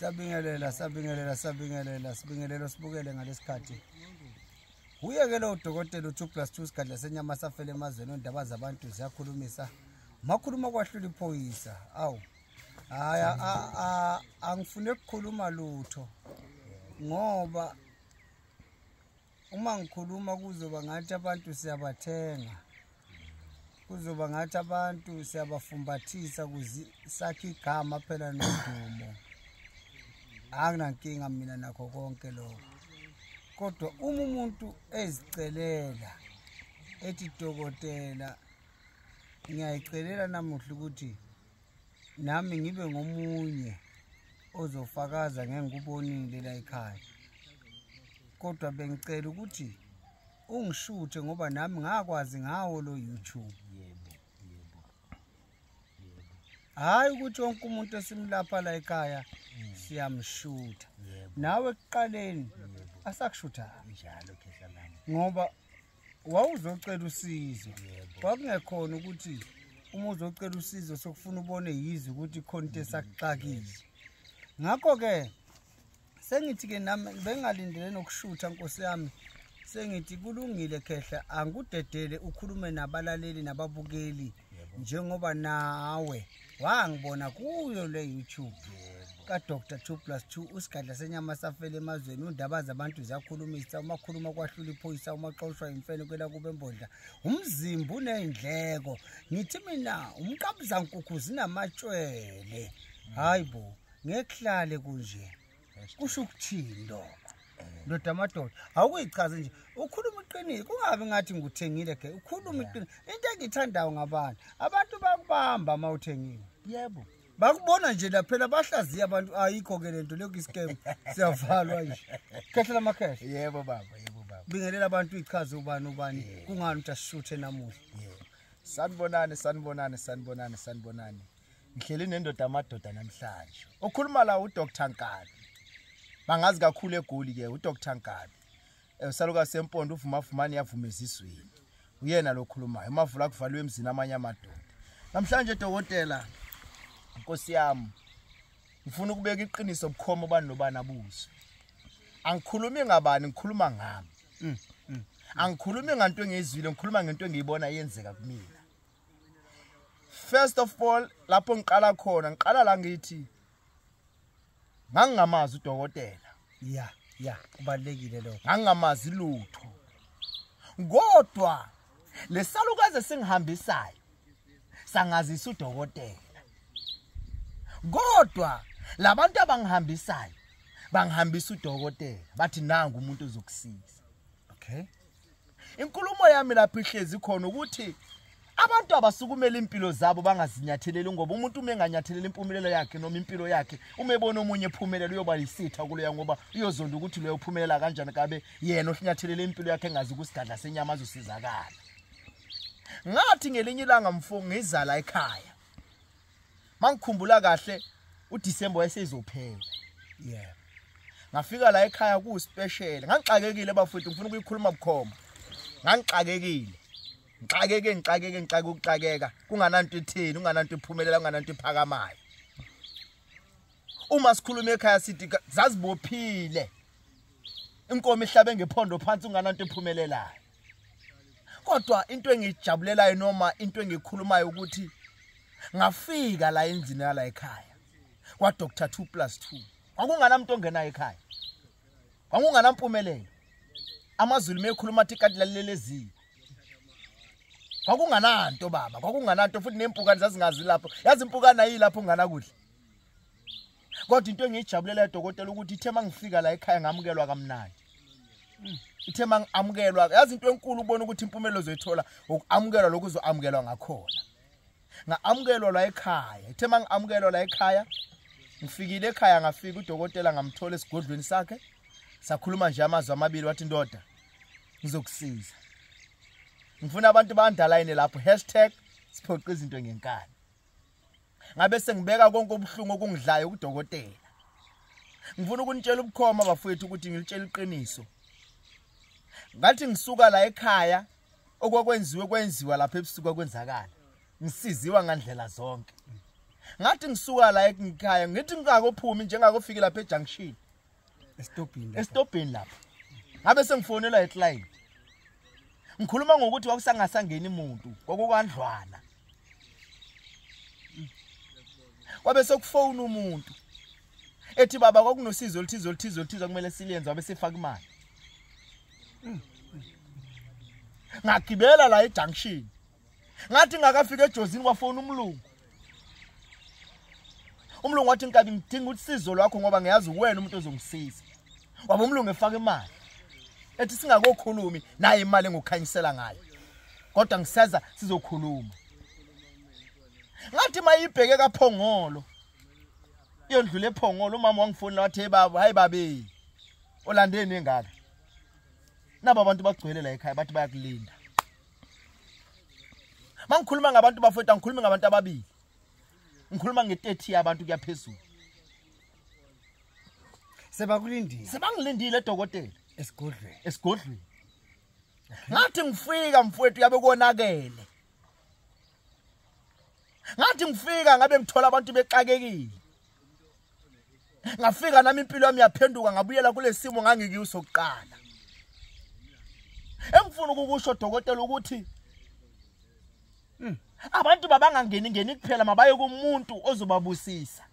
siyabingelela siyabingelela siyabingelela sibingelelo sibukele ngalesikhathi wuye ke lowo dokotela u-two plus two sigadla senyama safele emazweni ondaba zabantu ziyakhulumisa makhuluma kwahlula iphoyisa awu hayi angifune kukhuluma lutho ngoba uma ngikhuluma kuzoba ngathi abantu siyabathenga kuzoba ngathi abantu siyabafumbathisa kuze sakhe igama phela nodumo anginankinga mina nakho konke lokho kodwa uma umuntu ezicelela ethi dokotela ngiyayicelela namuhla ukuthi nami ngibe ngomunye ozofakaza ngengikubonile la ekhaya kodwa bengicela ukuthi ungishuthe ngoba nami ngakwazi ngawo lo YouTube hayi ukuthi wonke umuntu esimlapha la ekhaya mm. siyamshutha nawe ekuqaleni asakushutha njalo ngoba wawuzocela usizo kwakungekhona ukuthi uma uzocela usizo sokufuna ubone yize ukuthi khona into esakuxakile ngakho-ke sengithi-ke nami bengalindele nokushutha nkosi yami sengithi kulungile khehla angikudedele ukhulume nabalaleli nababukeli njengoba nawe yeah, wangibona kuyo le youtube kadr two plus two usigadla senyama safele emazweni undaba zabantu ziyakhulumisa umakhuluma kwahlula iphoyisa umaxoshwa imfene kwela kube mbodla umzimba uneyndleko ngithi mina umqabuzankukhu zinamatshwele hayi bo ngehlale kunje kusho ukuthini lokho ndoda amadoda awukuyichazi nje ukhuluma iqiniso kungabi ngathi ngikuthengile ke ukhuluma iqiniso into engiyithandayo ngabantu abantu bakubamba uma uthengile yebo bakubona nje laphela bahlaziya abantu ayikho ke lento leyo iscam siyavalwa nje khehlela amakhehla yebo baba yebo baba bingelela abantu ichaze ubani ubani kungani uthi ashuthe namuhla yebo sanibonani sanibonani sanibonani sanibonani ngihleli nendoda amadoda namhlanje okhuluma la uDr Nkabi bangazi kakhulu egoli ke uDr Nkabi eh, usaluka sempondo uvuma fumani yavuma ezizweni uyena lokhulumayo umavula kuvalwe emzini amanye amadoda namhlanje dokotela inkosi yami ngifuna ukubeka iqiniso bukhoma ubani nobani abuze angikhulumi ngabani ngikhuluma ngami mm, mm. angikhulumi ngento engiyizwile ngikhuluma ngento engiyibona yenzeka kumina first of all lapho ngiqala khona ngiqala la ngithi ngangingamazi udokotela ya ya kubalekile lokho ngangingamazi lutho kodwa lesalukaze singihambisayo sangazisa udokotela kodwa labantu abangihambisayo bangihambisa udokotela bathi nangu umuntu ozokusiza okay inkulumo yami lapho ihlezi khona ukuthi abantu abasukumela impilo zabo bangazinyatheleli ngoba umuntu uma enganyatheleli impumelelo yakhe noma impilo yakhe uma ebona omunye ephumelela uyoba yisitha kuleya ngoba uyozonda ukuthi leyo uphumelela kanjani kabe yena ohlnyathelele impilo yakhe engazi kusigadla senyama azosizakala ngathi ngelinye ilanga mfo ngizala ekhaya mangikhumbula kahle uDecember wayesezophela yeah ngafika la ekhaya ku special ngangixakekile bafowethu ngifuna ukuyikhuluma bukhoma ngangixakekile ngixakeke ngixakeke ngixake ukuxakeka kungananto etheni ungananto ephumelela ungananto ephakamayo uma sikhuluma ekhaya sithi zazibophile inkomo ihlabe ngephondo phansi ungananto ephumelelayo kodwa into engiyijabulelayo noma into engikhulumayo ukuthi ngafika la endlini yala ekhaya kwa Dr 2 plus 2 kwakungana muntu ongenayo ekhaya kwakungana mpumelelo amazulu mekhuluma athi kanti lalelezi kwakungananto baba kwakungananto futhi nempukane zazingazi lapho yazi impukane ayilapho ungana kudla kodwa into engiyijabulela dokotela ukuthi ithe mangifika la ekhaya ngamukelwa kamnandi hmm. ithe mangamukelwa yazi into enkulu ubona ukuthi impumelo zoyithola ukuamukelwa lokho uzoamukelwa ngakhona ngaamukelwa la ekhaya ithe mangamukelwa la ekhaya ngifikile ekhaya ngafika udokotela ngamthola esigodlweni sakhe sakhuluma nje amazwi amabili wathi ndoda ngizokusiza ngifuna abantu bandalaine lapho hashtag siphoqa izinto ngenkani ngabe sengibeka konke ubuhlungu okungidlayo kudokotela ngifuna ukunitshela ubukhoma bafowethu ukuthi ngilitshela iqiniso ngathi ngisuka la ekhaya okwakwenziwe kwenziwa lapha ebusuku kwenzakala ngisiziwa ngandlela zonke ngathi ngisuka la ekhaya ngithi ngingakophumi njengakofika lapha ejunction esitobhini lapha ngabe sengifonelwa eclient ngikhuluma ngokuthi kwakusangasangeni muntu kwakukandlwana kwabe sekufowuna umuntu ethi baba kwakunosizo oluthize oluthize oluthize kumele silenze wabe sefaka imali ngagibela la ejunction ngathi ngakafika ejozini kwafona umlungu umlungu wathi nkabi ngidinga usizo lwakho ngoba ngiyazi uwena umuntu ozongisiza waba umlungu efaka imali ethi singakokhulumi naye imali engukhanyisela ngayo kodwa ngiseza sizokhuluma ngathi mayibheke kaphongolo iyondlula ephongolo umama wangifonela wathi hey baba hayi babe olandeni engaka nabo abantu bagcwele la ekhaya bathi bayakulinda mangikhuluma ngabantu bafowethu angikhulumi ngabantu ababili ngikhuluma nge-30 yabantu kuyaphezulu sebakulindile sebangilindile edokotela esigodlweni esigodlweni ngathi ngifika mfowethu yabe konakele ngathi ngifika ngabe ngithola abantu bexakekile ngafika nami impilo yami yaphenduka ngabuyela kulesimo ngangikiso kuqala engifuna ukukusho dokotela ukuthi hmm, abantu babangangeni ngeni kuphela mabaye kumuntu ozobabusisa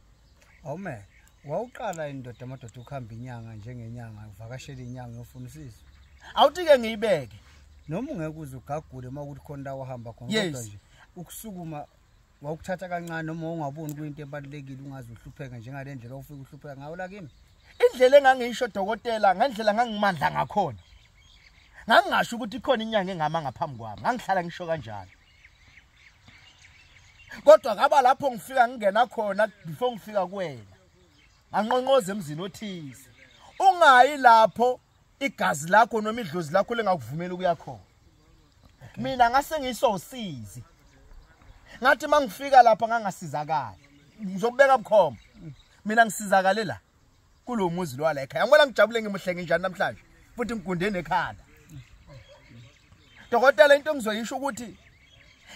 amen wawuqala indoda amadoda ukuhamba inyanga njengenyanga uvakashela inyanga yofunisisa awuthi-ke ngiyibeke noma ungeke uze ugagule uma ukuthi khona la wahamba khona kodwa nje ukusukuma wawukuthatha kancane noma ungaboni kuyinto ebalulekile ungaze uhlupheke njengale ndlela ofika uhlupheka ngawo la kimi indlela engangisho dokotela ngendlela ngangimandla ngakhona ngangingasho ukuthi ikhona inyanga engama ngaphambi kwami ngangihlala ngisho kanjalo kodwa ngaba lapho ngifika ngingena khona before ngifika kuwena nganqonqoza emzini othize ungayi lapho igazi lakho noma idlozi lakho lengakuvumela ukuya khona mina ngase ngisosizi ngathi mangifika lapha ngangasizakala ngizokubeka bukhoma mina ngisizakale la kulomuzi lwala ekhaya ngibona ngijabule ngimuhle nginjani namhlanje futhi ngigundene ekhanda dokotela into engizoyisho ukuthi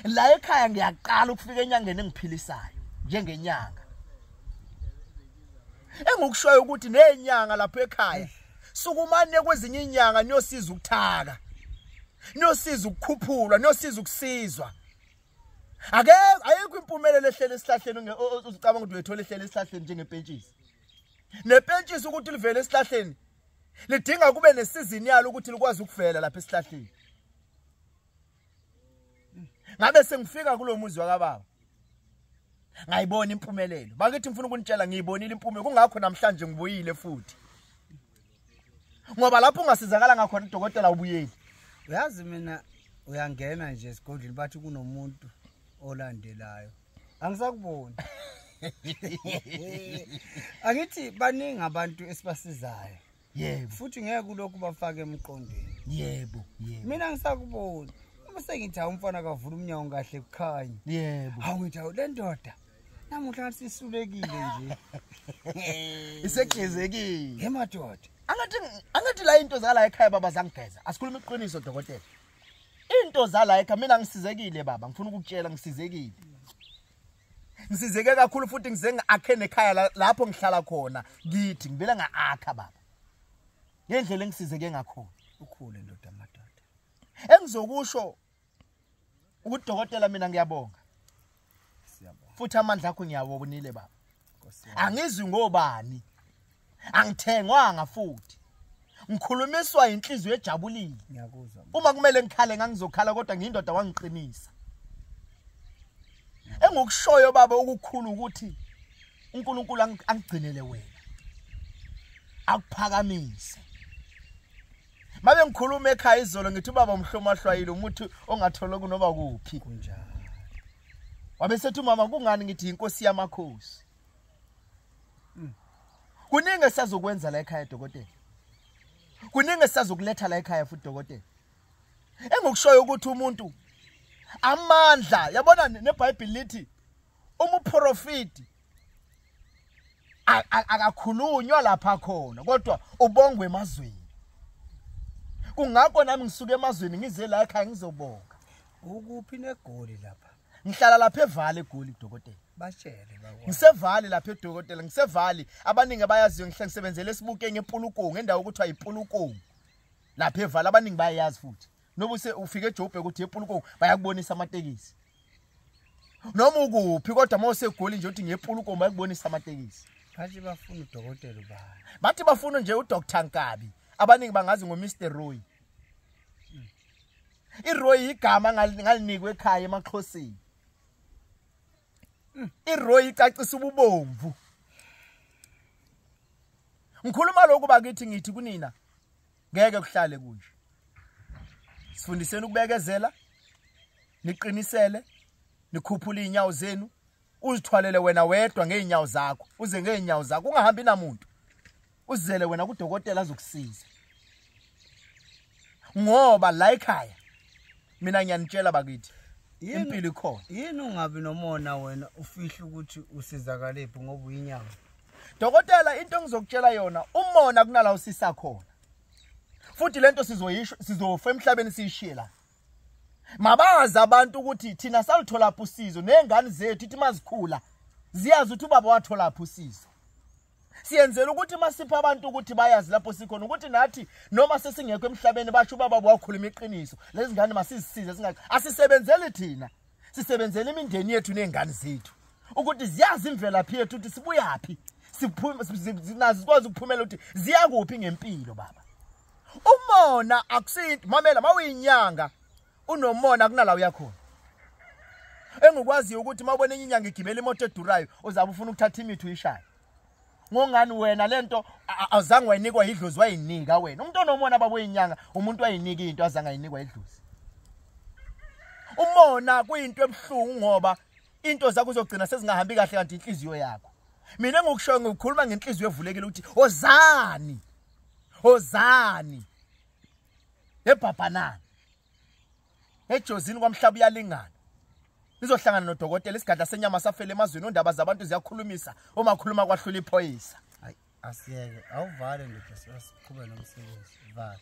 la ekhaya ngiyaqala ukufika enyangeni engiphilisayo njengenyanga engikushoyo ukuthi nenyanga lapha ekhaya sukumane kwezinye inyanga niyosiza ukuthaka niyosiza ukukhuphulwa niyosiza ukusizwa ake ayikho impumelelo ehlele esihlahleni ucabanga ukuthi uyethola ehlele esihlahleni njengepentshisi nepentshisi ukuthi livele esihlahleni lidinga kube nesizini yalo ukuthi likwazi ukuvela lapha esihlahleni ngabe sengifika kulomuzi wakababa ngayibona impumelelo bakithi ngifuna ukunitshela ngiyibonile impumelelo kungakho namhlanje ngibuyile futhi ngoba lapho ungasizakala ngakhona udokotela ubuyeli uyazi mina uyangena nje esigodlweni bathi kunomuntu olandelayo angisakuboni angithi baningi abantu esibasizayo yebo futhi ngeke kulokhu bafake emqondweni yebo yebo mina ngisakuboni uma sengithi awumfana kavula umnyango kahle kukhanye yebo hawu ngithi awu le ndoda namuhla ngathi sisulekile nje isegezekile ngemadoda angathi angathi la into zala ekhaya baba zangigeza asikhuluma iqiniso dokotela into zala ekhaya mina ngisizekile baba ngifuna ukukutshela ngisizekile ngisizeke kakhulu futhi ngize ngiakhe nekhaya lapho ngihlala khona ngithi ngibele ngaakha baba ngendlela engisizeke ngakhona ukhule ndoda madoda engizokusho ukuthi dokotela mina ngiyabonga futhi amandla akho ngiyawobonile baba angizwi ngobani angithengwanga futhi ngikhulumiswa inhliziyo ejabulile ngiyakuzwa uma kumele ngikhale ngangizokhala kodwa ngiyindoda wangiqinisa engikushoyo baba ukukhulu ukuthi uNkulunkulu angigcinele wena akuphakamise mabe ngikhuluma ekhaya izolo ngithi ubaba umhloma hlwayile umuthi ongathola kunoma kuphi kunjalo wabe sethi umama kungani ngithi inkosi yamakhosi hmm. kuningi esazokwenza la ekhaya dokotela kuningi esisazokuletha la ekhaya futhi dokotela engikushoyo ukuthi umuntu amandla yabona nebhayibhili lithi umuprofiti akakhulunywa lapha khona kodwa ubongwe emazweni kungakho nami ngisuke emazweni ngize la ekhaya ngizobonga ukuphi negoli lapha ngihlala lapha evale egoli kudokotela bashele bawo ngisevali lapha edokotela ngisevali abaningi abayaziyo ngihle ngisebenzele esibuke ngepulukungu endawo ukuthi ayipulukungu lapha evale abaningi bayayazi futhi noma use ufike eJoburg ukuthi epulukong bayakubonisa amatekisi noma ukuphi kodwa uma usegoli nje uthi ngepulukong bayakubonisa amatekisi bathi bafuna udokotela ubani bathi bafuna nje uDr Nkabi abaningi bangazi ngoMr Roy hmm. iRoy igama ngalinikwe ekhaya emaXhoseni hmm. iRoy icacisa ububomvu ngikhuluma lokhu bakithi ngithi kunina ngeke kuhlale kunje sifundiseni ukubekezela niqinisele nikhuphula izinyawo zenu uzithwalele wena wedwa ngeenyawo zakho uze ngeenyawo zakho ungahambi namuntu uzele wena kudokotela azokusiza ngoba la ekhaya mina ngiyanitshela bakithi impilo ikhona yini ungabi nomona wena ufihle ukuthi usizakalebhi ngoba uyinyama dokotela into engizokutshela yona umona kunala usisa khona futhi lento sizoyisho sizofa emhlabeni siyishiye la mabazi abantu ukuthi thina salithola phusizo nezingane zethu ithi mazikhula ziyazi ukuthi ubaba wathola phusizo siyenzela ukuthi masipha abantu ukuthi bayazi lapho sikhona ukuthi nathi noma sesingekho emhlabeni basho ubaba wakhuluma iqiniso lezi ngane masizisize singa asisebenzeli thina sisebenzela imindeni yethu nezingane zethu ukuthi ziyazi imvelaphi yethu ukuthi sibuyaphi siphuma sinazi sikwazi ukuphumela ukuthi ziya kuphi ngempilo baba umona akusinto mamela mawuyinyanga unomona kunala uyakhona engikwaziyo ukuthi uma ubona enye inyanga igibela imoto edurayo uzabe ufuna ukuthatha imithi uyishaye ngongani wena lento azange wayinikwa idlozi wayinika wena umuntu onomona babo inyanga umuntu wayinika into azange ayinikwa idlozi umona kuyinto ebuhlungu ngoba into zakho uzogcina sezingahambi kahle kanti inhliziyo yakho mina ngokushoyo ngokukhuluma ngenhliziyo evulekile ukuthi ozani ozani ebhabhanana ejozini kwamhlaba uyalingana nizohlangana nodokotela isigadla senyama safele emazweni ondaba zabantu ziyakhulumisa uma khuluma kwahlula iphoyisa asiyeke awuvale ndoda siqhube nomsebenzi vale